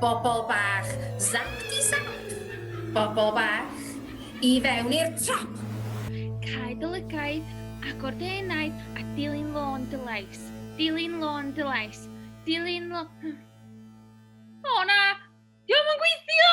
Bobl bach, zap-di-zap! Bobl bach, i fewn i'r trap! Cae dy lygaid, agor dy enaid, a dilyn lôn dy lais. Dilyn lôn dy lais. Dilyn lôn... O na! Dio'm yn gweithio!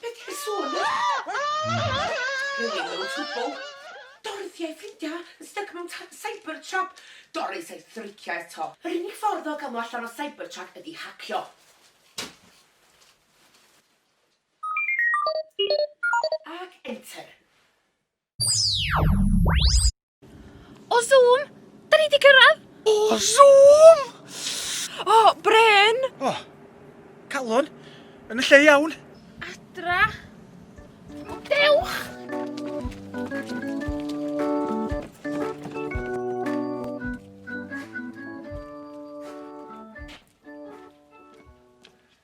Be' ti'n sôn am? Dorothy a'i ffrindia yn styc mewn tŷ Cybertruck. Doris a'i thricia eto. Yr unig ffordd o ga'l nhw allan o Cybertruck ydi hacio. Ac enter. O Zoom! Da ni di cyrraedd! O Zoom! O, Bryn! O, calon, yn y lle iawn. Adra. Dewch!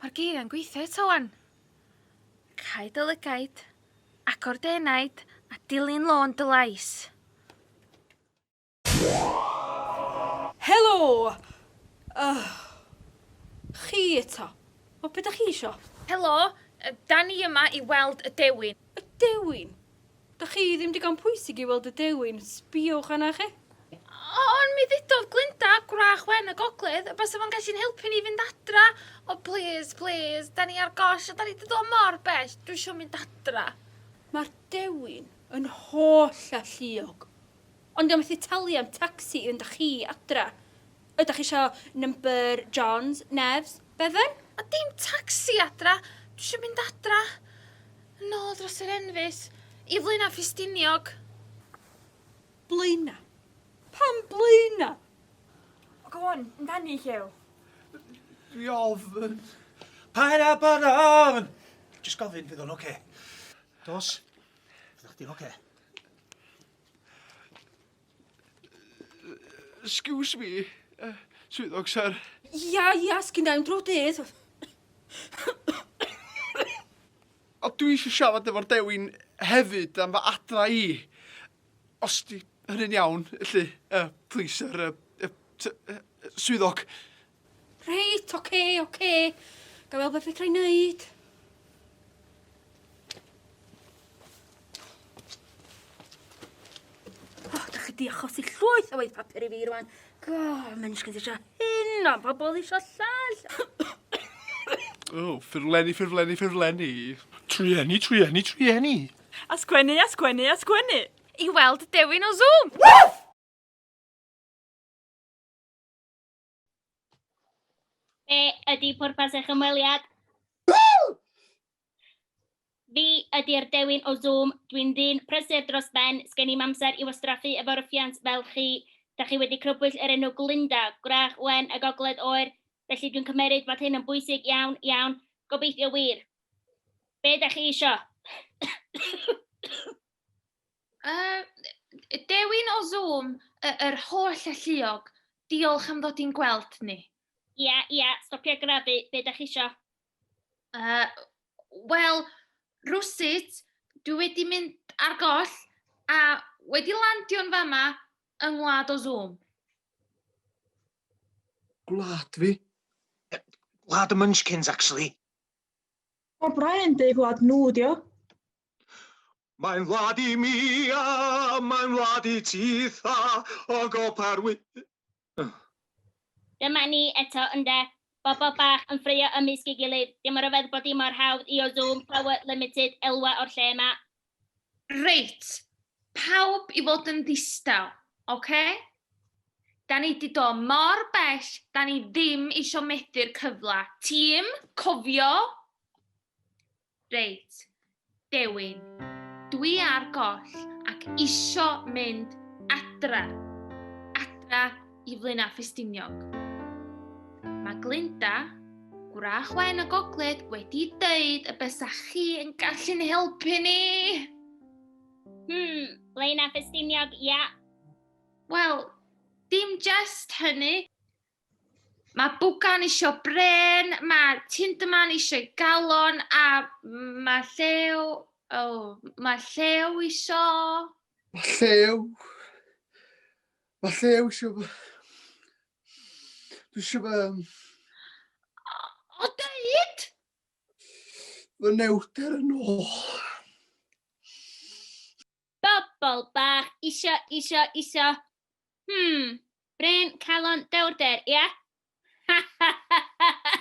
Mae'r geiriau'n gweithio eto 'wan! Caed dy lygaid, agor dy enaid, a dilyn lôn dy lais. Helo! Ych! Chi eto. O, be da chi isio? Helo, da ni yma i weld y dewin. Y dewin? Dych chi ddim digon pwysig i weld y dewin, sbiwch arna chi. Ond mi ddudodd Glinda, gwrach wen y gogledd, y basa fo'n gallu'n helpu ni fynd adra. O plîs, plîs, 'da ni ar goll a 'da ni 'di dod mor bell, dwi isio mynd adra. Mae'r dewin yn holl a lluog. Ond dwi methu talu am tacsi i fynd â chi adra. Ydach chi isio number John's, Nef's, Bevan? A dim tacsi adra, dwi isio mynd adra. Yn ôl dros yr enfys, i Flaenau Ffestiniog. Blaenau? Pam Blaenau? O, go on, amdani, Llew. Dwi ofn. Paid â bod o ofn! Jyst gofyn, fydd o'n oce. Dos, fyddwch chdi'n oce. Excuse me, uh, swyddog, sir. Ia, ia, sgynna i'm drwy dydd. A dwi eisiau siarad efo'r dewin hefyd am fy adra i. Os di hynny'n iawn, felly, uh, please, sir, uh, uh, swyddog. Reit, oce, okay, oce. Okay. Ga fel beth fedra i wneud. O, oh, da chi di achosi llwyth o waith papur i fi rwan. Go, mae'n eisiau eisiau hyn, o, pobl eisiau llall. O, oh, ffurflenni, ffurflenni, ffurflenni. Trueni, trueni, trueni. Asgwennu, asgwennu, asgwennu. I weld dewin o Zoom. Woof! Be ydy pwrpas eich ymweliad? Fi ydy'r dewin o Zoom, dwi'n ddyn prysur dros ben, sgen i'm amser i wastraffu efo rwffians fel chi. Da chi wedi crybwyll yr enw Glynda, gwrach wen y gogledd oer, felly dwi'n cymeryd fod hyn yn bwysig iawn, iawn, gobeithio wir. Be da chi isio? Yy, dewin o Zoom y- yr holl alluog. Diolch am ddod i'n gweld ni. Ia, ia, stopia grafu, be da chi isio? Uh, Wel, rwsut, dwi wedi mynd ar goll a wedi landio'n fama yng ngwlad o Zoom. Gwlad fi? Gwlad y Munchkins, actually. O, Brian, dy gwlad nhw, dio. Mae'n wlad i mi a mae'n wlad i ti tha o gopa'r wy... Dyma ni eto ynde? Bobl bach yn ffraeo ymysg ei gilydd. Dim ryfedd bod hi mor hawdd i o Zoom power limited elwa o'r lle yma. Reit, pawb i fod yn ddistaw, ocê? Da ni 'di dod mor bell, da ni ddim isio methu'r cyfle. Tîm, cofio! Reit, Dewin, dwi ar goll ac isio mynd adra. Adra i Flaenau Ffestiniog. Mae Glinda, gwrach wen y gogledd, wedi dweud y bysa chi yn gallu'n helpu ni. Hmm, Flaenau Ffestiniog, ia. Wel, dim jest hynny. Mae bwgan isio bren, mae tinderman eisiau galon, a mae llew... O, oh, mae llew isio... Mae llew... Mae llew isio... Dwi isio fe... O, dweud! Fy newter yn ôl. Bobl bach isio, isio, isio. Hmm, brên, calon, dewrder, ia? Ha ha ha ha ha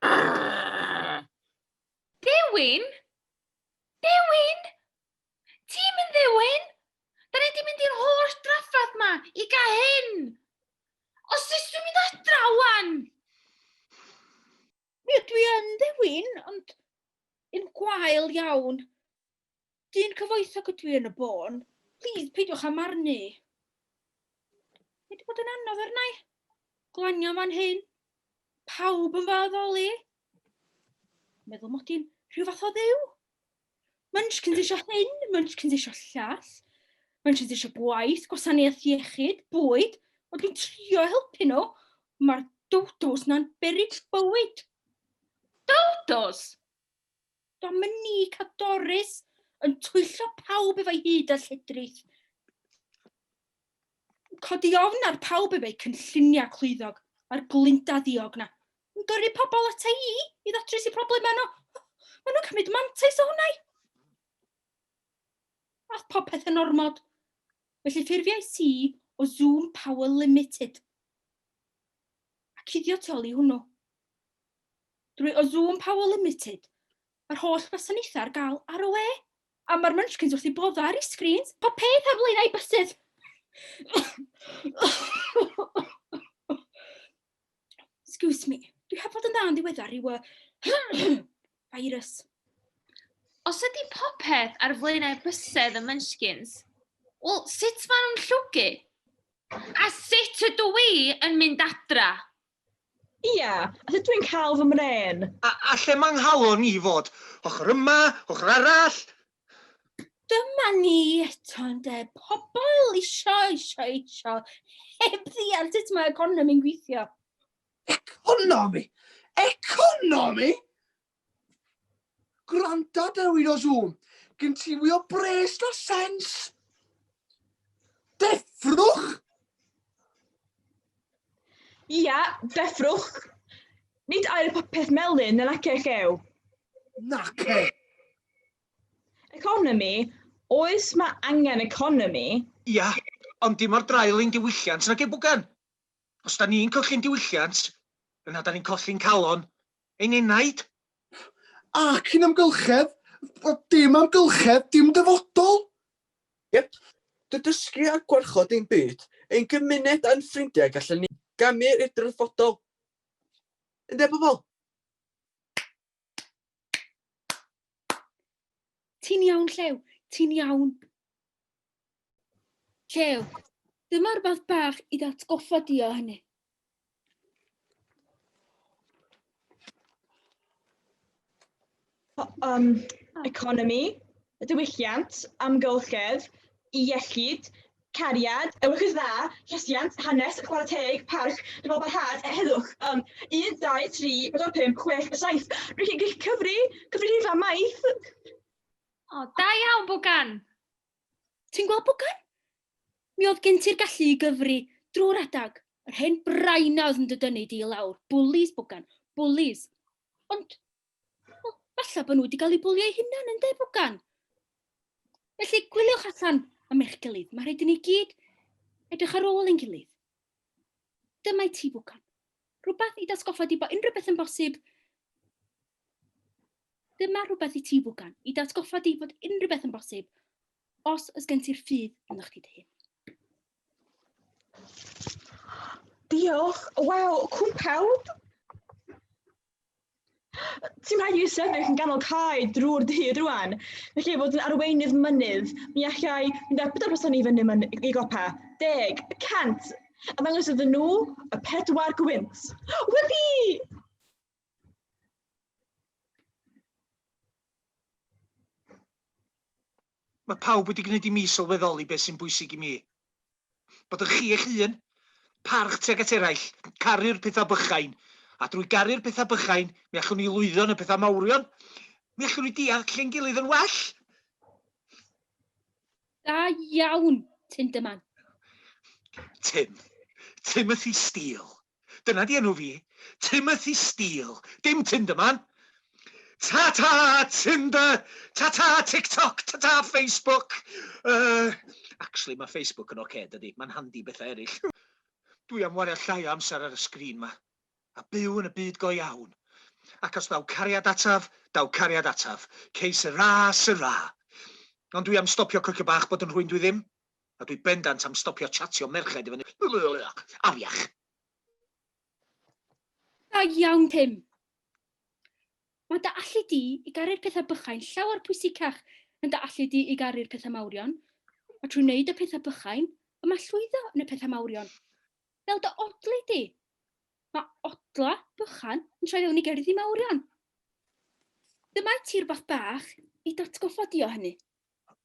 Urgh! Dewin? Dewin? Ti'm yn ddewin? Da ni di mynd i'r holl draffath ma i ga hyn! Os ys dwi'n mynd adra wan! Mi ydw i yn ddewin, ond yn gwael iawn. Dyn cyfoethog ydw i yn y bôn. Plîs, peidiwch â marnu. Mae wedi bod yn anodd arnau. Glanio fan hyn. Pawb yn fy addoli. Meddwl mod i'n rhyw fath o ddew. Munchkins eisiau hyn, Munchkins eisiau llall. Munchkins eisiau gwaith, gwasanaeth iechyd, bwyd. O, dwi'n trio helpu nhw. Mae'r dowdos na'n berig bywyd. Dowdos? Dominique a Doris yn twyllo pawb efo'i hyd a lledrith. Codi ofn ar pawb efo'i cynlluniau clwyddog a'r glinda ddiog na. Yn gyrru pobl ata i i ddatrys i problemau nhw. Maen nhw'n cymryd mantais o hwnna i. Ath popeth yn ormod. Felly ffurfiais i o Zoom Power Limited. A cuddio tu ôl i hwnnw. drwy Ozoom Power Limited, mae'r holl wasanaethau ar gael ar y we. A mae'r munchkins wrth ei boddau ar ei sgrins. Pa peth ar lein a'i bysedd? Excuse me, dwi heb fod yn dda yn ddiweddar i y virus. Os ydy popeth ar flaenau bysedd y Munchkins, wel, sut maen nhw'n llwgu? A sut ydw i yn mynd adra? Ia, a dw i'n cael fy mrên. A, a lle mae 'nghalon i fod? Ochr yma, ochr arall? Dyma ni eto ynde, pobl isio, isio, isio, heb ddeall sut mae economi'n gweithio. Economi! Economi! Gwranda da wyd o Zoom. Gyn ti mwy o bres na sens. Deffrwch! Ia, deffrwch. Nid air popeth melyn yn ac eich ew. Nac e. Economi, oes mae angen economi? Ia, ond dim o'r draul ein diwylliant nag ei bwgan. Os 'da ni'n colli'n diwylliant, yna 'da ni'n colli'n calon ein enaid. Ac yn amgylchedd, wel, dim amgylchedd, dim dyfodol! Yep. Drwy dysgu a gwarchod ein byd, ein gymuned a'n ffrindiau gallwn ni gamu i'r dyfodol. Ynde, pobl? Ti'n iawn, Llew, ti'n iawn. Llew, dyma rhywbeth bach i ddatgoffa di o hynny. Um, economi, diwylliant, amgylchedd, iechyd, Cariad, ewch i'r dda, llesiant, hanes, chwarae teg, parch, dyfal barhad, e heddwch, ym, un, dau, tri, pedwar, pump, chwech, a saith. Rwy'n chi'n gyllu cyfri, cyfri rhifa, maith. O, da iawn, Bwgan! Ti'n gweld, Bwgan? Mi oedd gen ti'r gallu i gyfri drwy'r adag. Yr hen braina oedd yn dy dynnu di i lawr. Bwlis, Bwgan, bwlis. Ond Wel, falle bod nhw wedi cael eu bwlio eu hunain yn de, Bwgan. Felly, gwyliwch allan am eich gilydd. Mae rhaid i ni gyd edrych ar ôl ein gilydd. Dyma i ti, Bwgan. Rhywbeth i datgoffa di bod unrhyw beth yn bosib. Dyma rhywbeth i ti, Bwgan, i datgoffa di bod unrhyw beth yn bosib os ys gen ti'r ffydd ynddo chdi dy hun. Diolch. Waw, cwmpawd! Ti'n rhaid i sefyll yn ganol cae drwy'r dydd rwan. Felly, fod yn arweinydd mynydd, mi allai mynd â pedwar person i fyny myn- i gopa. Deg, y cant, a ddangos iddyn nhw y pedwar gwynt. Wedi! Mae pawb wedi gwneud i mi sylweddoli beth sy'n bwysig i mi. Bod yn chi eich hun, parch tuag at eraill, caru'r pethau bychain. A drwy garu'r pethau bychain, mi allwn ni lwyddo yn y pethau mawrion. Mi allwn ni deall ein gilydd yn well. Da iawn, Tim Dyman. Tim. Timothy Steele. Dyna di enw fi. Timothy Steele. Dim Tinder man. Ta-ta Tinder! Ta-ta TikTok! Ta-ta Facebook! Yy, actually ma Facebook yn ocê dydi? Ma'n handi i betha eryll. Dwi am wario llai o amser ar y sgrin ma. A byw yn y byd go iawn. Ac os daw cariad ataf, daw cariad ataf. Que sera, sera. Ond dwi am stopio cwcio bach bod yn rhwyn dwi ddim. A dwi bendant am stopio chatio merched i fyny afiach. Da iawn Tim! Mae dy allu di i garu'r pethau bychain llawer pwysicach yn dy allu di i garu'r pethau mawrion, a trwy wneud y pethau bychain, y mae llwyddo yn y pethau mawrion. Fel dy odli di! Mae odla bychan yn troi fewn i gerddi mawrion. Dyma i ti rhywbeth bach i datgoffa di o hynny.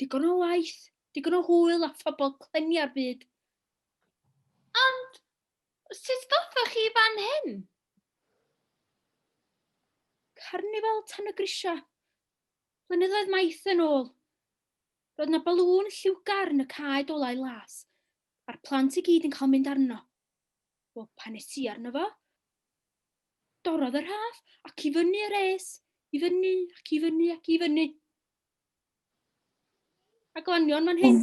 Digon o waith, digon o hwyl a phobl clynu ar fyd. Ond, sut ddothoch chi fan hyn? Carnifal Tan y Grisiau. Blynyddoedd maith yn ôl. Roedd yna balŵn lliwgar yn y cae dolau las, a'r plant i gyd yn cael mynd arno. Wel, pan nes i arno fo, dorodd yr haf ac i fyny yr es, i fyny ac i fyny ac i fyny. A glanion fan hyn?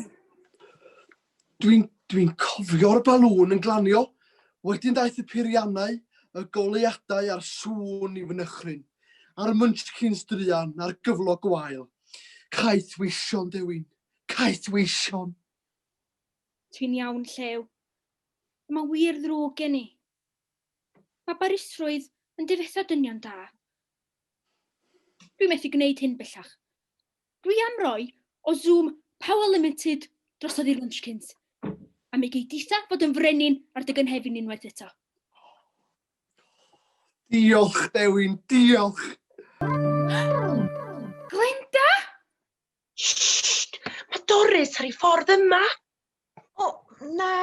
Dwi'n dwi cofio'r balŵn yn glanio. Wedyn daeth y piriannau, y goleuadau a'r sŵn i fy nychryn, a'r munchkins druan a'r gyflog gwael. Caeth weision, Dewin. Caeth weision. Ti'n iawn, Llew. Mae wir ddrwg gen i. Mae barusrwydd yn difetha dynion da. Dwi methu gwneud hyn bellach. Dwi am roi o Zoom Power Limited drosodd i'r Munchkins, a mi gei ditha fod yn frenin ar dy gynhefin unwaith eto. Diolch, Dewin, diolch! Glenda? Shhh! Mae Doris ar ei ffordd yma! O, na!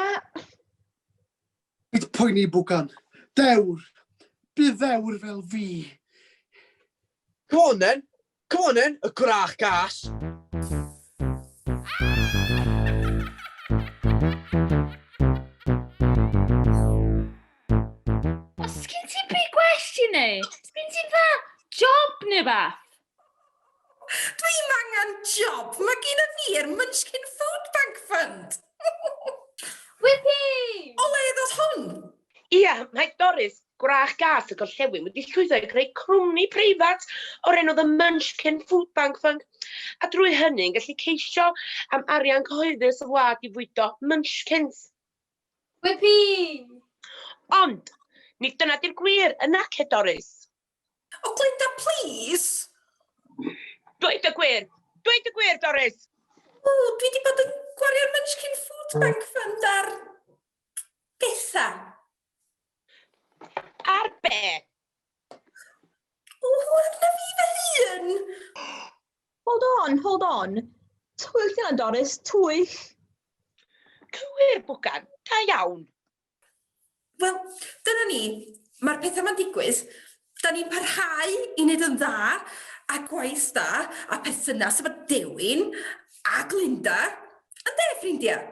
Bydd poeni bwgan. Dewr! Bydd ddewr fel fi! Come on then! Come on then, y gwrach gas! Os gen ti big gwestiwn neu, os gen ti dda job neu beth? Dwi'm angen job, mae gynna fi'r Munchkin Food Bank Fund! Wippee! O le ddoth hwn? Ia, mae Doris, gwrach gath y gorllewin, wedi llwyddo i greu cwmni preifat o'r enw The Munchkin Food Bank Fund, a drwy hynny yn gallu ceisio am arian cyhoeddus y wlad i fwydo munchkins. Wippee! Ond, nid dyna 'di'r gwir, yn nace, Doris? O Glynda plîs! Dweud y gwir! Dweud y gwir, Doris! O, dwi di bod yn gwario'r Munchkin Food Bank Fund ar... betha. Ar be? O, arna fi fy hun! Hold on, hold on. Twyll yna, Doris, twyll! Cywir, Bwgan. Da iawn. Wel, dyna ni. Mae'r pethau yma'n digwydd. Da ni'n parhau i wneud yn dda a gwaith da a perthynas efo Dewin a Glinda. Ynde, ffrindiau?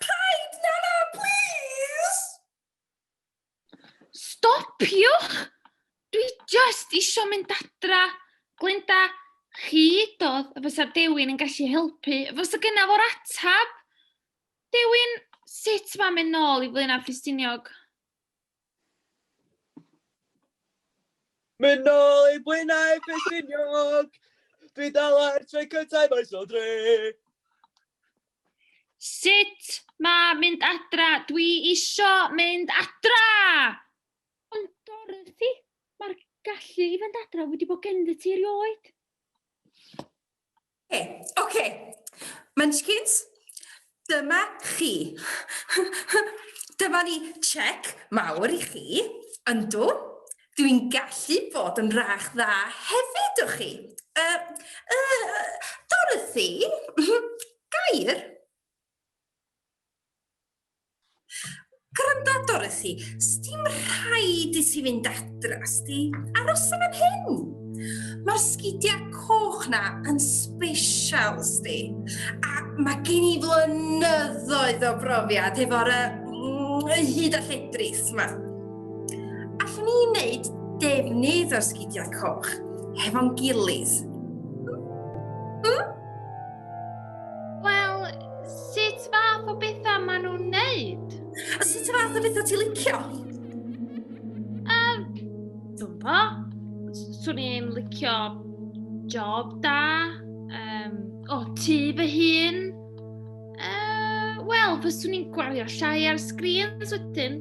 Paid! Na, na, plis! Stopiwch! Dwi jyst isio mynd adra. Glenda, chi dodd y fysa Dewin yn gallu helpu. Fysa gyna fo'r atab. Dewin, sut mae'n mynd nôl i Flaenau Ffestiniog? Mynd nôl i Flaenau Ffestiniog! Dwi dal ar trai cyntaf, mae'n so dre! Sut mae mynd adra? Dwi isio mynd adra! Ond Dorothy, mae'r gallu i fynd adra wedi bod genddi ti erioed. Hey, OK. Munchkins, dyma chi. dyma ni check mawr i chi. Yndw, Dwi'n gallu bod yn rach dda hefyd, o chi. Uh, uh, Dorothy, gair. Gwranda, Dorothy, sdim rhaid i ti fynd adra, sti aros yn am hyn. Mae'r sgidiau coch na yn special, sti. A mae gen i flynyddoedd o brofiad efo'r uh, hyd a lledris yma. Allwn ni wneud defnydd o'r sgidiau coch hefo'n gilydd. Hmm? Wel, sut fath o bethau maen nhw'n wneud? A sut y fath o bethau ti licio? Um, Dwi'n bo. Swn i'n licio job da. Um, o, ti fy hun. Uh, Wel, fyswn i'n gwario llai ar sgrins wedyn.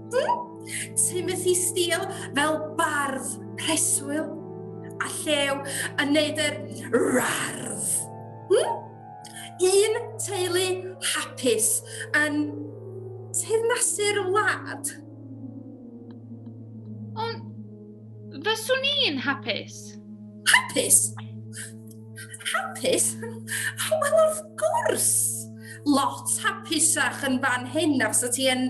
Timothy Steele fel bardd preswyl a llew yn neud yr rardd. Hmm? Un teulu hapus yn teyrnasu'r wlad. Ond fyswn i'n hapus? Hapus? Hapus? Oh, well, of gwrs! Lot hapusach yn fan hyn na fysa ti yn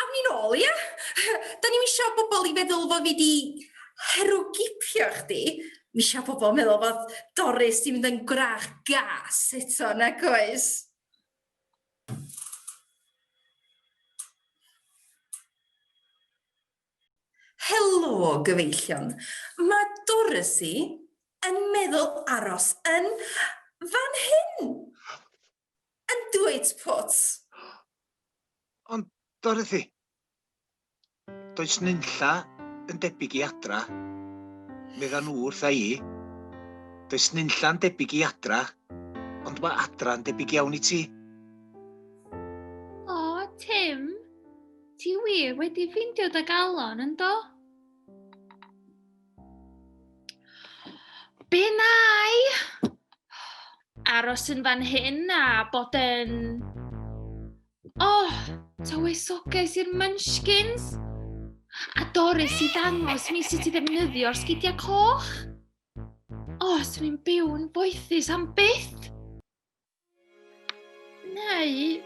Awn ni nôl, ia? Dan ni'm isio bobl i feddwl fo' fi 'di herwgipio chdi, m'isio pobl meddwl fod Doris 'di mynd yn gwrach gas eto, nag oes? Helo, gyfeillion. Ma' Dorothy yn meddwl aros yn fan hyn! yn dweud pwt. Ond, Dorothy, does nunlla yn debyg i adra, medda nhw wrtha i. Does nunlla'n debyg i adra, ond mae adra yn debyg iawn i ti. Tim, ti wir wedi ffeindio dy galon, yn do? Be nai? aros yn fan hyn a bod yn... O! Tywysoges i'r munchkins! A Doris i ddangos mi sut i ddefnyddio'r sgidiau coch. O, swn i'n byw'n boethus am byth! neu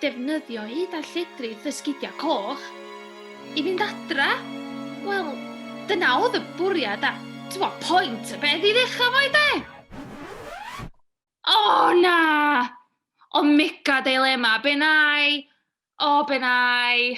defnyddio hud a lledrith y sgidiau coch i fynd adra. Wel, dyna oedd y bwriad a, ti'n point y beth i ddechrau fo i de? O, oh, na! O, mega dilema, be nai? O, oh, be nai?